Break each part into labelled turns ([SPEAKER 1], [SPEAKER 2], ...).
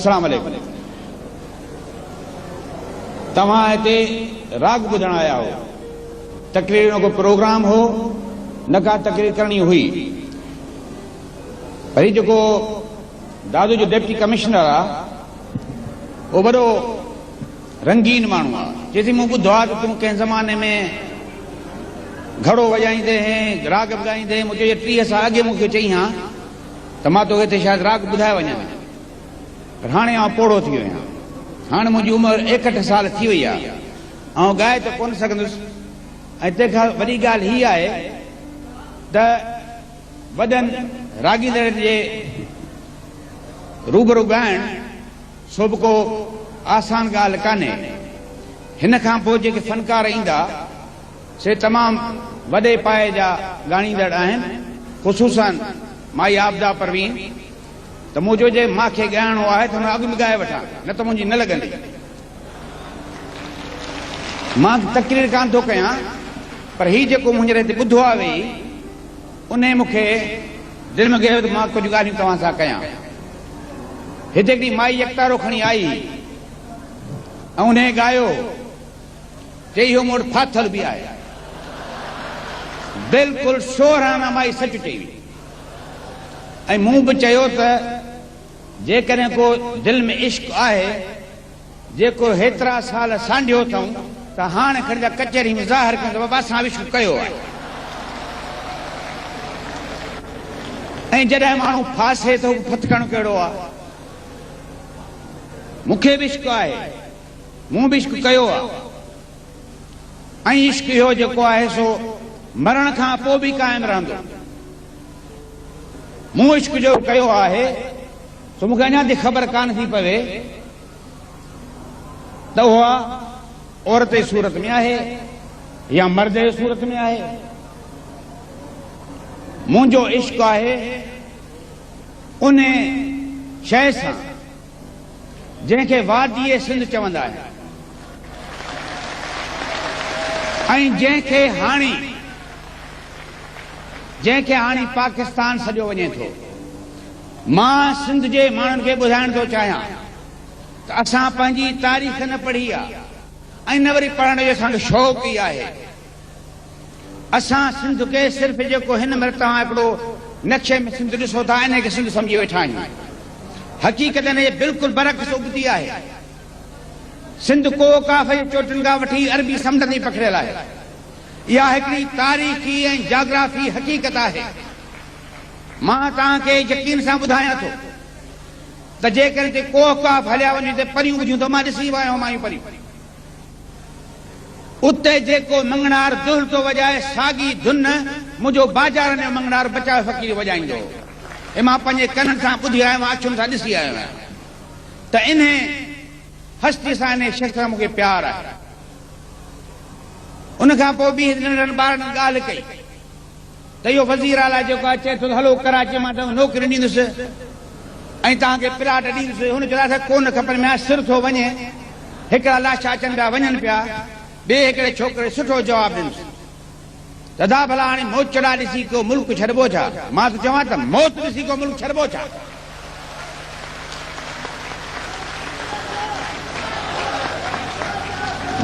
[SPEAKER 1] اسلام عليڪم توهان هتي راڳ ٻڌڻ آيا هو تقرير جو ڪو پروگرام هو نه ڪا تقرير ڪرڻي هئي پر هي جيڪو دادو جو ڊپٽي ڪمشنر آ او وڏو رنگين ماڻهو آ چي ٿي مون ٻڌو آ ته تون ڪنهن زماني ۾ گهڙو وڄائيندي هين راڳ ٻڌائيندي هين مون چيو ٽيهه سال اڳي مون کي چئي هان ته مان توکي ٿي شايد راڳ ٻڌائي وڃان، پر هاڻي آئون پوڙهو ٿي ويو آهيان. هاڻي منهنجي عمر ايڪهٺ سال ٿي وئي آهي. آئون ڳائي ته ڪونه سگهندس ۽ تنهن کان وڏي ڳالهه هيء آهي ته وڏن راڳيندڙن جي روبرو ڳائڻ سو به ڪو آسان ڳالهه ڪانهي. هن کان پوء جيڪي فنڪار ايندا سي تمام وڏي پائي جا ڳائڻيندڙ آهن خصوصا مائي عابده پروين ته مون چيو جي مان کي ڳائڻو آهي ته هن اڳ ۾ ڳائي وٺان نه ته منهنجي نه لڳندي مان تقرير ڪانه ٿو ڪيان پر هي جيڪو مون هينئر هتي ٻڌو آهي ويهي انهي مون کي دل ۾ ڳهيو ته مان ڪجهه ڳالهيون توهان سان ڪيان هتي هڪڙي مائي يڪتارو کڻي آئي ۽ انهي ڳايو جي اهو موڊ ڦاٿل به آهي. بلڪل شوهرانه مائي سچ چئي هئي ۽ مون به چيو ته جيڪڏهن ڪو دل ۾ عشق آهي جيڪو هيترا سال سانڍيو اٿئون ته هاڻ کڻ جا ڪچهري ۾ ظاهر ڪيون ته بابا اسان عشق ڪيو آهي ۽ جڏهن ماڻهو ڦاسي ٿو ڦٿڪڻ ڪهڙو آهي مون کي به عشق آهي. مون به عشق ڪيو آ ۽ عشق اهو جيڪو آهي سو مرڻ کان پو به قائم رهندو. مون عشق جو ڪيو آهي سو مون کي اڃا تائين خبر ڪانه ٿي پوي ته اها عورت جي صورت ۾ آهي يا مرد جي صورت ۾ آهي. منهنجو عشق آهي ان شيء سان. جنهن کي واديء سنڌ چوندا آهن ۽ جنهن کي هاڻي جنهن کي هاڻي پاڪستان سڏيو وڃي ٿو. مان سنڌ جي ماڻهن کي ٻڌائڻ ٿو چاهيان ته اسان پنهنجي تاريخ نه پڙهي آهي ۽ نه وري پڙهڻ جو اسان کي شوق ئي آهي. اسان سنڌ کي صرف جيڪو هن مهل توهان هڪڙو نقشي ۾ سنڌ ڏسو ٿا انهي کي سنڌ سمجهي ويٺا آهيون حقيقت ان جي بلڪل برعڪس ابتي آهي سنڌ ڪوهه ڪاف جي چوٽين کان وٺي عربي سمنڊ تائين پکڙيل آهي اها هڪڙي تاريخي ۽ جاگرافي حقيقت آهي مان توهان کي يقين سان ٻڌايان ٿو ته جيڪڏهن هتي ڪوهه ڪاف هليا وڃي ته پريون ٻجهيون ته مان ڏسي ويو آهيان مايون پريون اتي جيڪو مڱڻهار دهلٽو وڄائي ساڳي ڌن منهنجو باجارن جو مڱڻهار بچايو فقير وڄائيندو هو. هي مان پنهنجي ڪنن سان ٻڌي آيو آهيان اکين سان ڏسي آيو آهيان ته انهي هستي سان انهي شخص سان مونکي پيار آهي. ان کان پوء ٻيهر ننڍڙن ٻارڙن ڳالهه ڪئي. ته اهو وزير اعليٰ جيڪو آهي چئي ٿو ته هلو ڪراچيء مان توهان کي نوڪري ڏيندس ۽ توهان کي پلاٽ ڏيندس، هن چيو ته اسان کي ڪو نه کپن، ميان سر ٿو وڃي، هڪڙا لاشا اچن پيا وڃن پيا، ٻئي هڪڙي ڇوڪري سٺو جواب ڏنس ته ادا ڀلا هاڻي موچڙا ڏسي ڪو ملڪ ڇڏبو ڇا؟ مان ٿو چوان ته موت ڏسي ڪو ملڪ ڇڏبو ڇا؟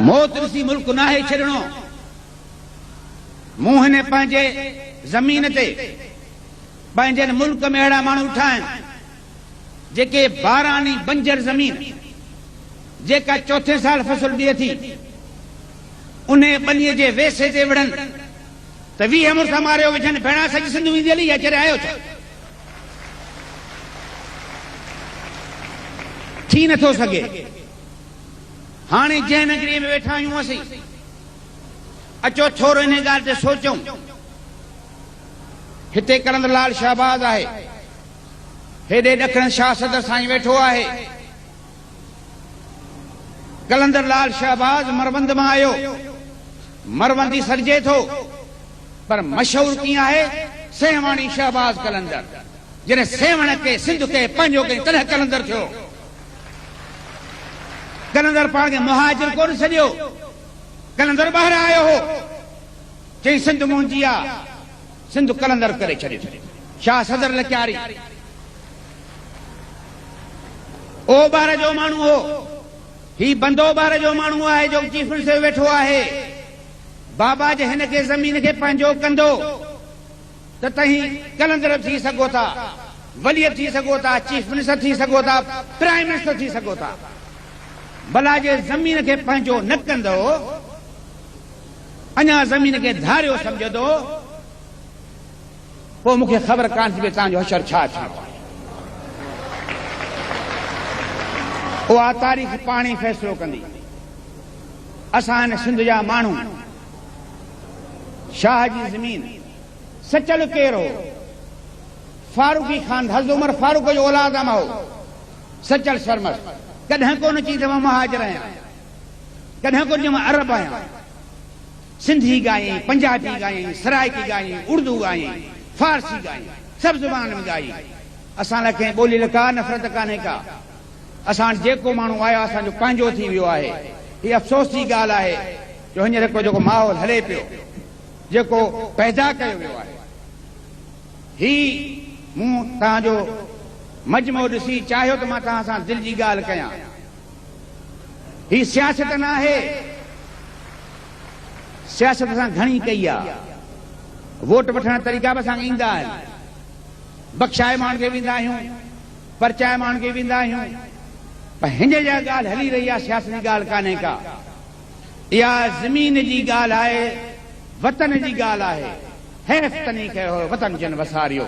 [SPEAKER 1] موت ڏسي ملڪ ناهي ڇڏڻو. مون هن پنهنجي زمين تي پنهنجن ملڪ ۾ اهڙا ماڻهو ڏٺا آهن جيڪي باراني بنجر زمين جيڪا چوٿين سال فصل ڏئي ٿي انهي ٻني جي ويسي تي وڙهن ته ويهه مرسا ماريو وجهن ڀيڻا سڄي سنڌ ويندي هلي يا چري آيو ڇا ٿي نٿو سگهي هاڻي جنهن نگري ۾ ويٺا آهيون اسين اچو ٿورو انهيء ڳالهه تي سوچون. هتي ڪرندڙ لال شهباز آهي. هيڏي ڏکڻ شاهه صدر سائين ويٺو آهي. ڪلندر لال شهباز مروند مان آيو. مروند ئي سڏجي ٿو، پر مشهور ڪيئن آهي، سيوهاڻي شهباز ڪلندر. جڏهن سيوهڻ کي سنڌ کي پنهنجو ڪيائين، تڏهن ڪلندر ٿيو. ڪلندر پاڻ کي مهاجر ڪونه سڏيو. قلندر ٻاهران آيو هو. چيائين سنڌ منهنجي آ، سنڌ قلندر ڪري ڇڏيو. شاهه صدر لڪياري اوٻهر جو ماڻهو هو. هي بند اوٻهر جو ماڻهو آهي جو چيف منسٽر ويٺو آهي. بابا جي هن کي زمين کي پنهنجو ڪندو. ته توهين قلندر ٿي سگهو ٿا، وليت ٿي سگهو ٿا، چيف منسٽر ٿي سگهو ٿا، پرائم منسٽر ٿي سگهو ٿا. بلا جي زمين کي پنهنجو نه ڪندؤ، اڃا زمين کي ڌاريو سمجهندؤ، پوء مون کي خبر ڪانه ٿي پئي توهان جو حشر ڇا ٿيڻو آهي. اها تاريخ پاڻ ئي فيصلو ڪندي. اسان هن سنڌ جا ماڻهو شاهه جي زمين سچل ڪير هو؟ فاروقي خان حضرت عمر فاروق جو اولاد ام هو؟ سچل سرمست ڪڏهن ڪونه چئي ته مان مهاجر آهيان، ڪڏهن ڪونه چئي مان عرب آهيان. سنڌي ڳايائين، پنجابي ڳايائين، سرائڪي ڳايائين، اڙدو ڳايائين، فارسي ڳايائين، سڀ زبانن ۾ ڳايائين. اسان لاء ڪنهن ٻولي لاء ڪا نفرت ڪانهي ڪا. اسان جيڪو ماڻهو آيا اسان جو پنهنجو ٿي ويو آهي هي افسوس جي ڳالهه آهي جو هينئر هڪڙو جيڪو ماحول هلي پيو جيڪو پيدا ڪيو ويو آهي هي مون توهان جو مجمعو ڏسي چاهيو ته مان توهان سان دل جي ڳالهه ڪيان هي سياست نه آهي سياست اسان گهڻي ڪئي آهي ووٽ وٺڻ طريقا به اسان کي ايندا آهن بخشائي ماڻهن کي ويندا آهيون پرچائي ماڻڪي ويندا آهيون پر هن جا ڳالهه هلي رهي آهي سياست جي ڳالهه ڪانهي ڪا اها زمين جي ڳالهه آهي وطن جي ڳالهه آهي حيف تني کي هو وطن جن وساريو.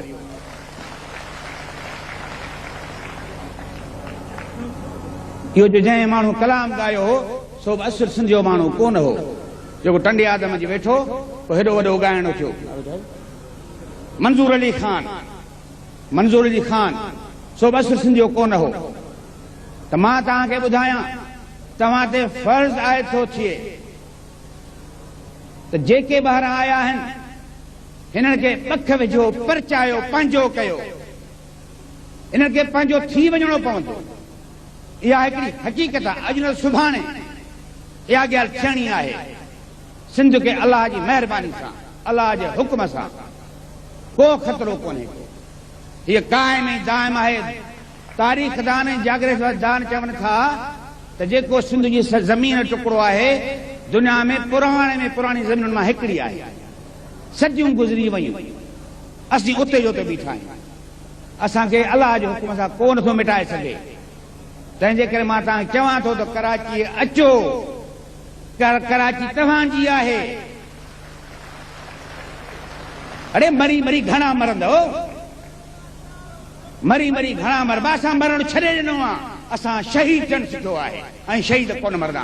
[SPEAKER 1] اهو جو جنهن ماڻهو ڪلام ڳايو هو سو به اصل سنڌ جو ماڻهو ڪونه هو جيڪو ٽنڊي آدم جي ويٺو پوء هيڏو وڏو ڳائڻو ٿيو منظور علي خان منظور علي خان، سو بس سنڌيو ڪو نه هو ته مان توهان کي ٻڌايان، توهان تي فرض عائد ٿو ٿئي ته جيڪي ٻاهران آيا آهن، هنن کي پک وجهو، پرچايو، پنهنجو ڪيو. هنن کي پنهنجو ٿي وڃڻو پوندو. اها هڪڙي حقيقت آهي، اڄ نه ته سڀاڻي اها ڳالهه ٿيڻي آهي. سنڌ کي الله جي مهرباني سان، الله جي حڪم سان ڪو خطرو ڪونهي ڪو. هيء قائم ۽ دائم آهي. تاريخ دان ۽ جاگريفر دان چون ٿا ته جيڪو سنڌ جي زمين ٽڪرو آهي، دنيا ۾ پراڻي ۾ پراڻي زمينن مان هڪڙي آهي. صديون گذري ويون، اسين اتي جو اتي بيٺا آهيون. اسان کي الله جي حڪم سان ڪو نٿو مٽائي سگهي. تنهن جي ڪري مان توهان کي چوان ٿو ته ڪراچيء اچو. ڪراچي توهان جي آهي. اڙي مري مري گهڻا مرندؤ. مري مري گهڻا مربا اسان مرڻ ڇڏي ڏنو آ اسان شهيد ٿيڻ سکيو آهي ۽ شهيد ڪونه مردا.